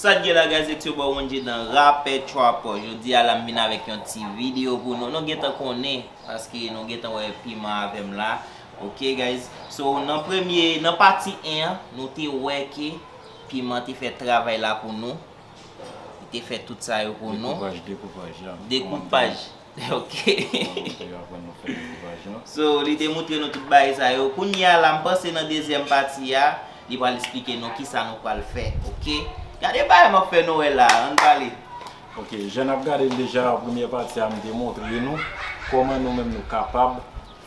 Sat gen la guys it's your boy Wondjy Dan Rapè Trapper Jodi a la m vin avèk yon ti video pou nou Nou gentan konnen paske nou gentan wè piman avè m la Ok guys So nan premye nan pati 1 an nou te wè ke piman te fè travay la pou nou Li te fè tout sa yo pou nou. Dekoupaj, dekoupaj, ya. Dekoupaj, ok. Montre yo aprann nou fè dekoupaj lan. So, li te montre nou tout bagay sa yo. Kounye a la, m panse nan dezyèm pati a, li pral esplike nou kisa nou pral fè, ok. Gade bagay m ap fè nou wè la a, ann pale. Ok, jan n ap gade l deja, premyè pati a, m te montre nou kòman nou menm nou kapab.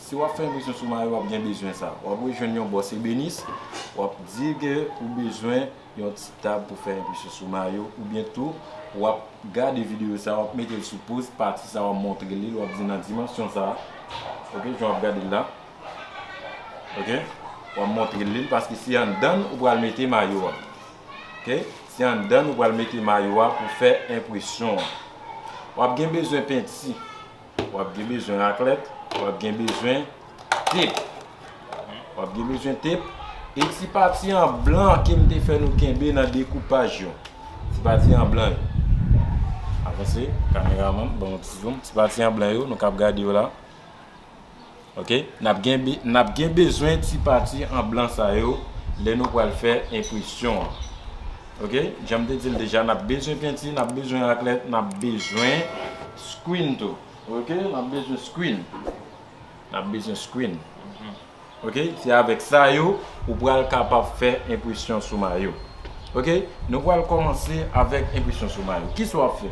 Si wap fè enpresyon sou mayo wap gen bezwen sa. Wap rejwenn yon bòs ebenis, wap di ke ou bezwen yon ti tab pou fè enpresyon sou mayo oubyen tou wap gade videyo sa wap metel sou poz pati sa wap montre lil wap di nan dimansyon sa ok jan wap gadel la ok wap montrel lil paske se anndann ou pral mete mayo a ok se anndann ou pral mete mayo a pou fè enpresyon an wap gen bezwen penti wap gen bezwen raklèt, wap gen bezwen tep, wap gen bezwen tep, e ti pati an blan ke m te fè nou kenbe nan dekoupaj yo, ti pati an blan yo, avanse kameraman, ban m yon ti zoom, ti pati an blan yo nou kab gade yo la. Ok nap gen nap gen bezwen ti pati an blan sa yo lè nou pral fè enpresyon an ok janm te dil deja nap bezwen penti nap bezwen raklèt nap bezwen screen tou ok nap bezwen screen nap bezwen screen ok se avèk sa yo ou pral kapab fè enpresyon sou mayo ok nou pral kòmanse avèk enpresyon sou mayo kisa wap fè.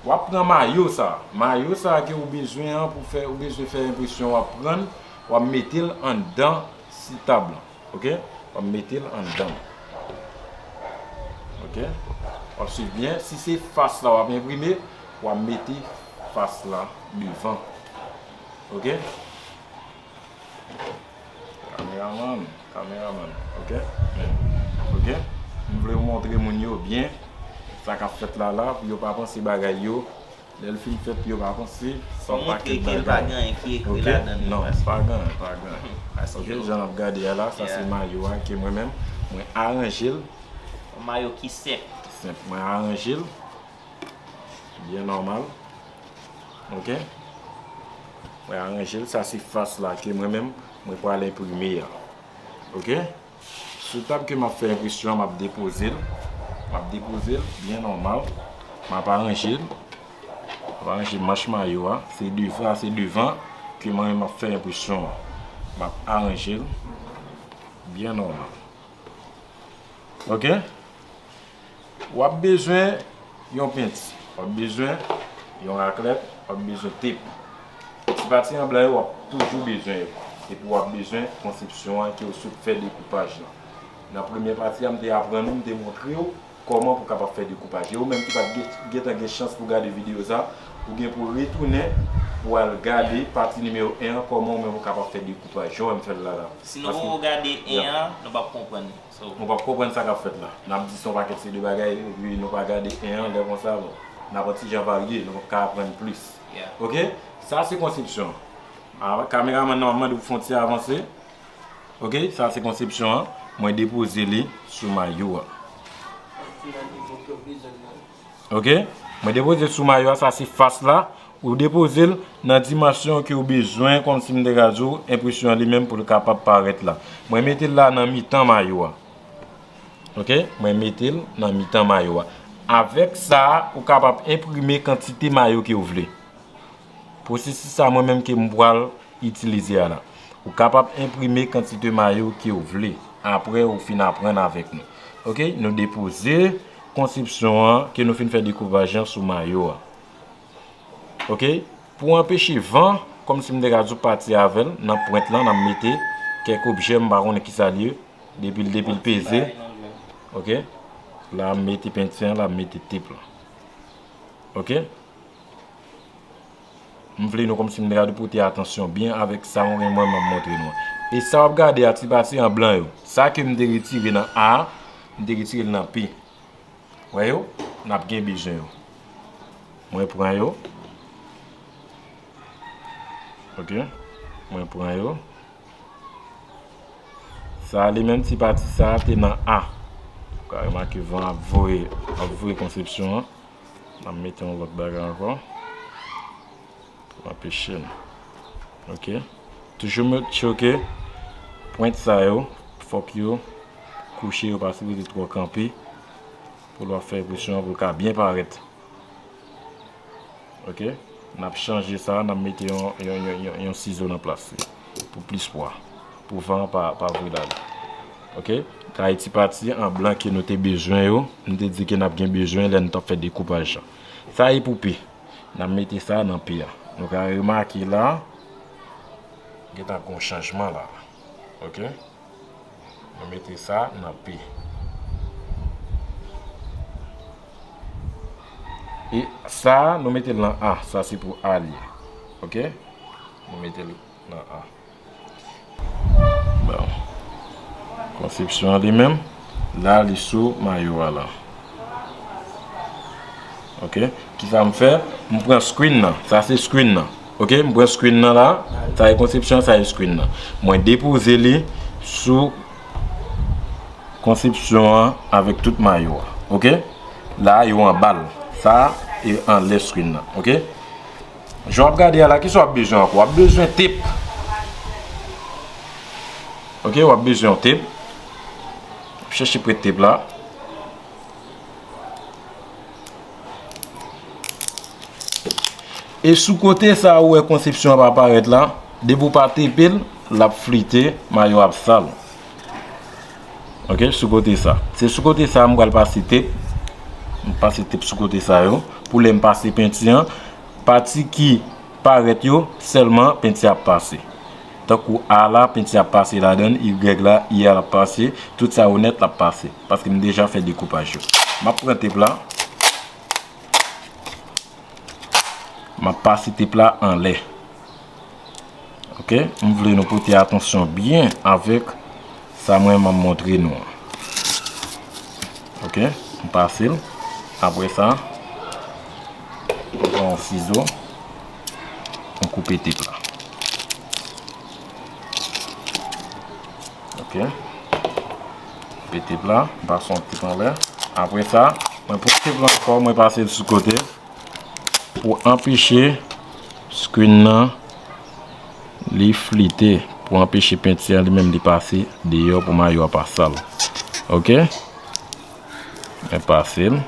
Wap pran mayo sa. Mayo sa ke ou bezwen an pou fè ou bezwen fè enpresyon wap prann wap metel anndan si tab lan ok wap metel anndan ok wap swiv byen si se fas la wap enprime wap mete fas la devan ok. Kameraman, kameraman ok ok m vle ou montre moun yo byen sa kap fèt la la pou yo pa panse bagay yo lèl fin fèt pou yo pa panse son pakèt bagay ok non pa gen pa gen ok jan nap gade ya la sa se mayo a ke mwen menm mwen aranjel yon mayo ki senp senp mwen aranjel Byen nòmal. Ok. Mwen aranje l. Sa se fas la ke mwen menm mwen pral enprime a. Ok. Sou tab ke m ap fè enpresyon an, m ap depoze l. M ap depoze l byen nòmal. M ap aranje l. M ap aranje manch mayo a. Se devan, se devan ke mwen menm ap fè enpresyon an. M ap aranje l byen nòmal. Ok. W ap bezwen yon penti, w ap bezwen yon raklèt, w ap bezwen tep. Ti pati anblan yo w ap toujou bezwen yo. Epi w ap bezwen konsepsyon an ke w sot fè dekoupaj lan. Nan premye pati a m te aprann ou, m te montre w kòman pou kapab fè dekoupaj. E ou menm ki pa t gentan gen chans pou gade videyo sa, ou gen pou retounen pou w al gade pati nimewo 1 an kòman ou menm ou kapab fè dekoupaj jan w wè m fè l la la. Sinon ou gade 1 an, nou p ap konprann. Nou pap konprann sa kap fèt la. Nap di son pakèt se de bagay epi nou pa gade 1 an 2 konsa bon. Nap yon ti jan varye nou pap ka aprann plis ok. Sa se konsepsyon an. Kameramann nan map mande pou fon ti avanse ok. Sa se konsepsyon an. Mwen depoze li sou mayo an. Ok mwen depoze sou mayo a sa se fas la ou depoze l nan dimansyon ke ou bezwen kòm si m te ka di w enpresyon an li menm pou l kapab parèt la mwen mete l la nan mitan mayo a ok mwen mete l nan mitan mayo a avèk sa ou kapab enprime kantite mayo ke ou vle. Pwosesis sa mwen menm ke m pwal itilize a la. Ou kapab enprime kantite mayo ke w vle apre ou fin aprann avèk nou. Ok, nou depoze konsepsyon an ke nou fin fè dekoupaj an sou mayo a. Ok, pou anpeche van, kòm si m te ka di w pati avèl, nan pwent lan nan mete kèk objè m pa konnen ki sa li ye, depi l depi l peze, ok, la m mete penti an la m mete tep lan. Ok. M vle nou kòmsi m ta gade pote atansyon byen avèk sa mwen gen mwen menm montre nou an. E sa w ap gade a ti pati an blan yo. Sa ke m te retire nan A, m te retire l nan P. Wè yo? N ap gen bezwen yo. Mwen pran yo. Ok. Mwen pran yo. Sa li menm ti pati sa te nan A. Ou ka remake van ap voye, ap voye konsepsyon an. Map mete yon lot bagay anko. Pou anpechem. Ok. Toujou mwen tchoke. Pwent sa yo. Fok yo. Kouche yo pa sipoze tro kanpe. Pou lwa fè epresyon pou lka byen paret. Ok. Nap chanje sa. Nap mete yon sizo nan plas li. Pou plis pwa. Pou van an pa voye la li. Ok. Kay ti pati an blan ke nou te bezwen yo. Nou te di ke n ap gen bezwen lè nou t ap fè dekoupaj la. Sa e pou P. N ap mete sa nan P a. Nou ka remake la. Gen ta gon chanjman la. Ok. Nou mete sa nan P. E sa nou mete l nan A. Sa se pou A li. Ok. Nou mete l nan an. Bon. Konsepsyon an li menm. La li sou mayo a la. Ok. Ki sa m fè? M pran screen nan. Sa se screen nan. Ok. M pran screen nan la. Sa e konsepsyon an, sa e screen nan. Mwen depoze li sou konsepsyon an avèk tout mayo a. Ok. La yo anba l. Sa e anlè screen nan. Ok. Jan wap gade a la kisa wap bezwen ankò wap bezwen tep ok wap bezwen yon tep wap chèche prèt tep la e sou kote sa ou wè konsepsyon ap aparèt la depi ou pa tepel lap flite mayo ap sal Ok sou kote sa. Se sou kote sa m pral pase tep. M pase tep sou kote sa yo. Pou lè m pase penti an. Pati ki paret yo. Selman penti ap pase. Tankou A la penti ap pase ladan. Y la y a ap pase. Tout sa yo net ap pase. Paske m deja fe dekoupaj yo. M ap pran tep la. M ap pase tep la anle. Ok m vle nou pote atansyon byen avèk sa mwen man montre nou an ok m pase l apre sa m pran yon sizo m koupe tip la ok koupe tip la m pase yon tip anlè apre sa mwen pran tip la ankò mwen pase l sou kote. Pou anpeche screen nan li flite. Pou anpeche penti an li menm li pase deyò pou mayo a pa sal. Ok. Mwen pase l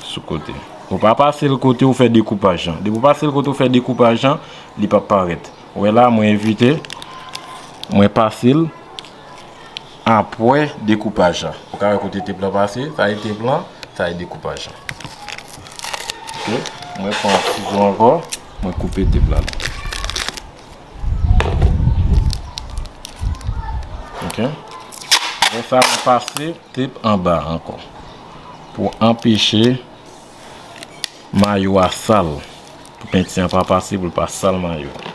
sou kote. Ou pa pase l kote ou fè dekoupaj an. Depi ou pase l kote ou fè dekoupaj an, li pa parèt. Ou wè la mwen evite. Mwen pase l. Apwè dekoupaj la. Ou ka wè kote tep lan pase. Sa e tep lan. Sa e dekoupaj lan. Ok. Mwen pran sizo anko. Mwen koupe tep lan. Ok. Mwen sa mwen pase tep anba anko. Pou anpeche mayo a sal. Pou penti an pa pase pou l pa sal mayo a.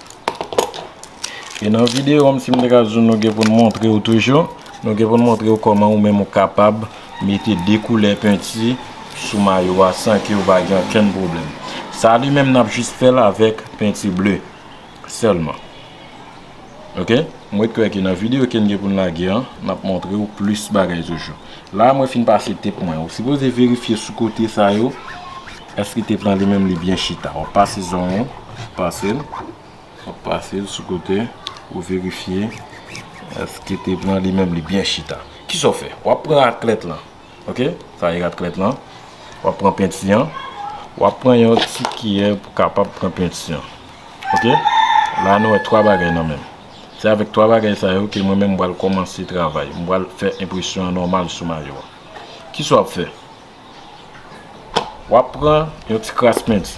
E nan videyo an si m te ka di w nou gen pou n montre w toujou, nou gen pou n montre w kòman ou menm ou kapab mete 2 koulè penti sou mayo a san ke ou pa gen okenn pwoblèm. Sa li menm n ap jis fè l avèk penti ble sèlman. Ok, mwen kwè ke nan videyo ke n gen pou n lage an, n ap montre w plis bagay toujou. La a mwen fin pase tep mwen. Ou sipoze verifye sou kote sa yo, Eske te pran li menm li byen chita. Wap pase zonyon, wap pasel, wap pasel sou kote pou verifye eske te pran li menm li byen chita. Kisa w fè? Wap pran raklèt lan, ok, sa e ratklèt lan, wap pran penti an, wap pran yon ti kiyè pou kapab pran penti an, ok, la nou wè 3 bagay nan menm. Se avèk 3 bagay sa yo ke mwen menm m pral kòmanse travay, m pral fè enpresyon an nòmal sou mayo a. Kisa wap fè? Wap pran yon ti kras mint.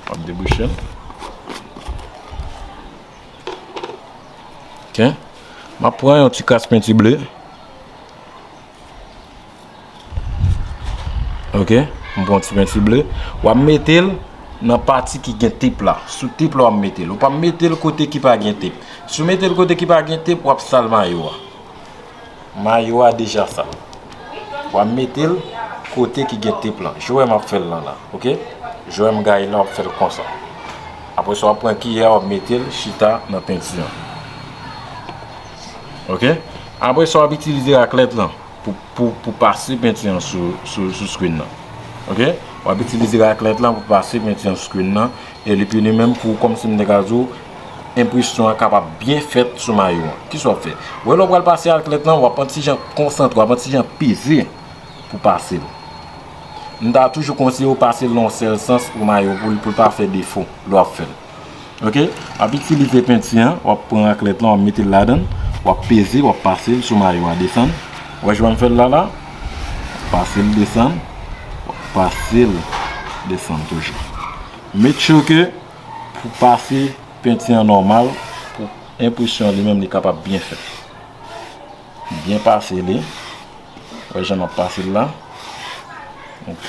Wap debouche l. Ok. Map pran yon ti kras penti ble. Ok. M pran ti penti ble. Wap mete l nan pati ki gen tip la. Sou tip la wap mete l. Ou pa mete l kote ki pa gen tip. Si w mete l kote ki pa gen tip wap sal mayo a. Mayo a deja sal. Wa metel kote ki gen tep lan. Joe map fel lan la. Ok. Joe m gaye lan wap fel konsa. Apre sa wap pran kiyè wap metel chita nan penti an. Ok. Apre sa wap itilize raklet lan pou pase penti an sou screen nan. Ok. Wap itilize raklet lan pou pase penti an sou screen nan. E li pini menm pou komsi m te ka di w. enpresyon an kapab byen fèt sou mayo an. Kisa w ap fè? Ou wè lè w pral pase aklèt lan, w ap yon ti jan konsantre, w ap yon ti jan peze pou w pase l. M ta toujou konseye w pase l nan yon sèl sans pou mayo pou l pa fè defo lè w ap fè l. Ok, w ap itilize penti an, w ap pran aklèt lan, w ap mete l ladan l, w ap peze, w ap pase l sou mayo a desann. Ou wè jan m fè l la la? W ap pase l desann, w ap pase l desann toujou. Make sure ke. Pou pase penti an nòmal pou enpresyon an li menm li kapab byen fèt. M byen pase li. Ou wè jan m ap pase l la. Ok.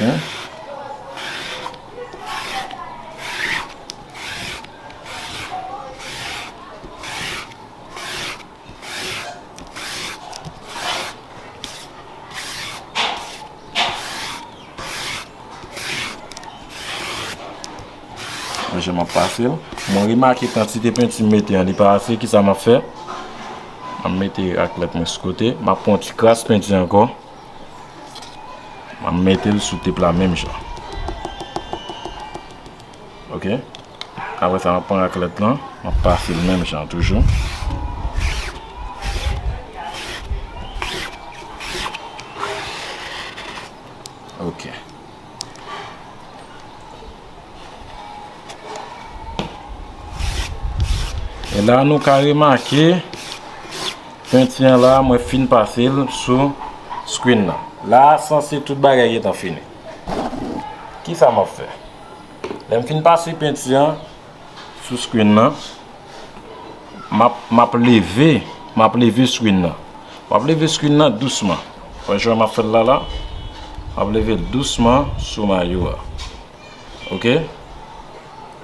Manje m ap pase l. Mwen remake kantite penti m mete an li pa ase. Kisa m ap fè? M ap mete raklèt mwen sou kote. M ap pran yon ti kras penti ankò. M ap mete l sou tip la menm jan. Ok. Apre sa, m ap pran raklèt lan, m ap pase l menm jan toujou. Ok. E la nou ka remake, penti an la, mwen fin pase l sou screen nan. La, sanse tout bagay etan fini. Ki sa m ap fè? Lè m fin pase penti an sou screen nan map leve map leve screen nan map leve screen nan dousman wè jan map fèl la la map leve l dousman sou mayo a ok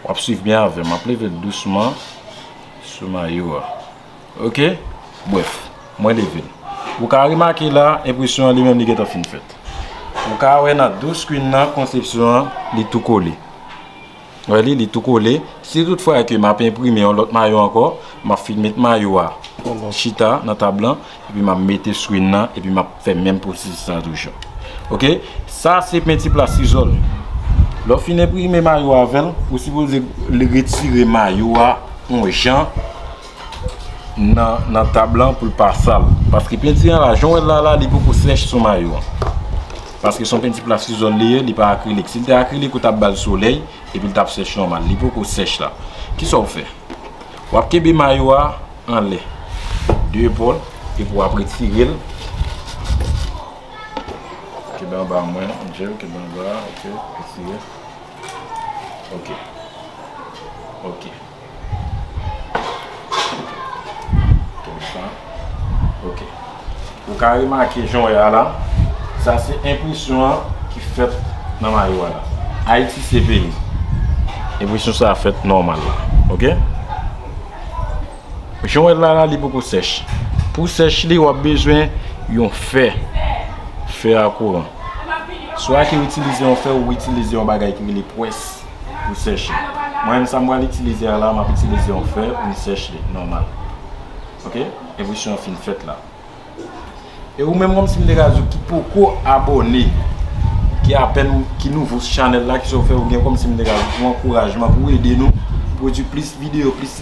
wap swiv byen avèm map leve l dousman sou mayo a. Ok Brèf, mwen leve. Ou ka remake la, enpresyon an li menm li gentan fin fèt. Ou ka wè nan dou screen nan konsepsyon an li tou kole. Wè li, li tou kole. Si tout fwa ke m ap enprime yon lòt mayo ankò, m ap fin met mayo a chita nan tab lan. epi map mete sou yn nan epi map fè menm pwosesis lan toujou ok sa se penti plastisol lè w fin enprime mayo a avèl ou sipoze retire mayo a yon jan nan tab lan pou l pa sal paske penti an la jan w wè l la la li poko sèch sou mayo an paske son penti plastisol li ye li pa akrilik si l te akrilik ou tap bal solèy epi l tap sèch nòmal li poko sèch la kisa w fè wap kenbe mayo a anlè de epòl epi wap retirel kebe anba mwen angel kebe anba ok retire ok ok konsa ok. Ou ka remake jan w wè a la, sa se enpresyon an ki fèt nan mayo a la. Ayiti se peyi. Enpresyon sa a fèt nòmal la. Ok? Jan w wè l la la, li poko sèch. Pou sèch li, w ap bezwen yon fè. Fè a kouran. Swa ke w itilize yon fè ou itilize yon bagay ki rele pwès pou sèch li. Mwen menm sa m pral itilize a la, m ap itilize yon fè pou m sèch li nòmal. Ok? Enpresyon an fin fèt la. E ou menm kòm si m te ka di w ki poko abòne, ki apèn, ki nouvo sou chanèl la, ki sa w fè ou gen kòm si m te ka di w pou ankourajman, pou ede nou pwodui plis videyo, plis.